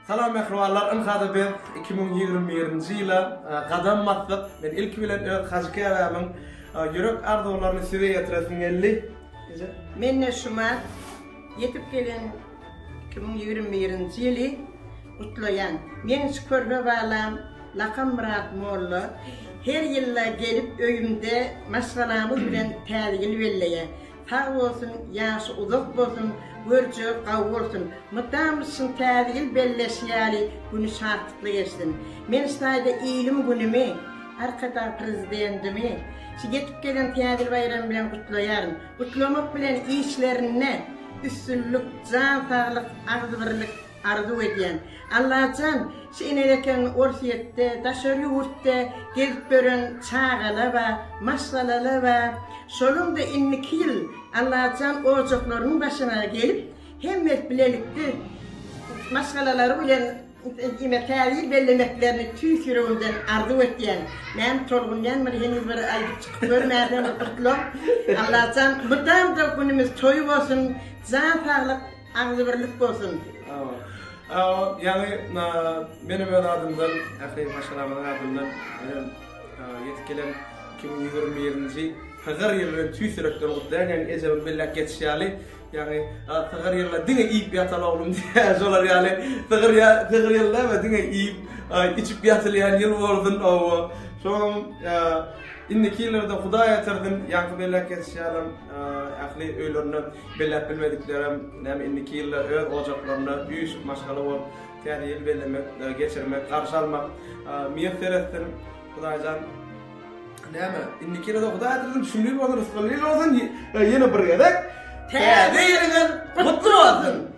Salam mähribanlar ynha-da biz iki müň ýigrimi birinji ýyla gadam basdyk. Men ilki bilen öz Hajy käbämiň ýürek arzuwlaryny size ýetiresim geldi. Mende şumat ýetip gelen iki müň ýigrimi birinji ýyly gutlaýan. Meň şu körpe balam lakam Myrat molla her ýylda gelip öýümde maşgalamyz bilen täze ýyl belleýä. Sag bolsun ýaşy uzak bolsun görje gawy bolsun mydam yzşyn täze ýyl belleşi ýaly güni şatlykly geçsin men ştaýda ilim günimi arkadag prezidendimi şy ýetip gelen täze ýyl baýramy bilen gutlaýaryn gutlamak bilen işlerinde üstünlik jan saglyk agzybirlik Arzuw edýän. Allajan şu ene eken orsyýetde daşary ýurtda gezip ýören çagala ba maşgalala ba şoluňda inniki ýyl Allajan ojaklarynyň başyna gelip hemmet bilelikde maşgalalary bilen diýmek täze bellemeklerini tüýs ýüregimden arzuw etýän näme tolgunýan bir heniz bir aýdyp çykyp görmäden bir gutlag Allajan mydamda günümiz toýy bolsun jan saglyk Agzybirlik bolsun. Ýaňy menem öz adymdan, ähli maşgalamyzyň adyndan menem ýetip gelen iki müň ýüz ýigrimi birinji Pygyr ýyly bilen tüýs ýürekden gutlaýan. Ýaňy ejemiň belläp geçişi ýaly, ýaňy Pygyr ýylda diňe iýip ýatal oglum diýýär. Şolar ýaly Pygyr Pygyr ýyly näme diňe iýip, içip ýatylýan ýyl bolsun. Hawa. Şoňam indiki ýyllarda Hudaý ýatyrsyn. Ýaňky belläp geçişi ýalam ähli öýlerine Belläp bilmediklerem näme indiki ýylda öz ojaklarynda üýşüp maşgala bolup täze ýyl bellemek geçirmek garşy almak miýesser etsin Hudaýjan näme indiki ýylada Hudaý ädilsin düşündiriş bolsun rysgally ýyl bolsun ýene bir gezek Täze ýylyňyz gutly bolsun.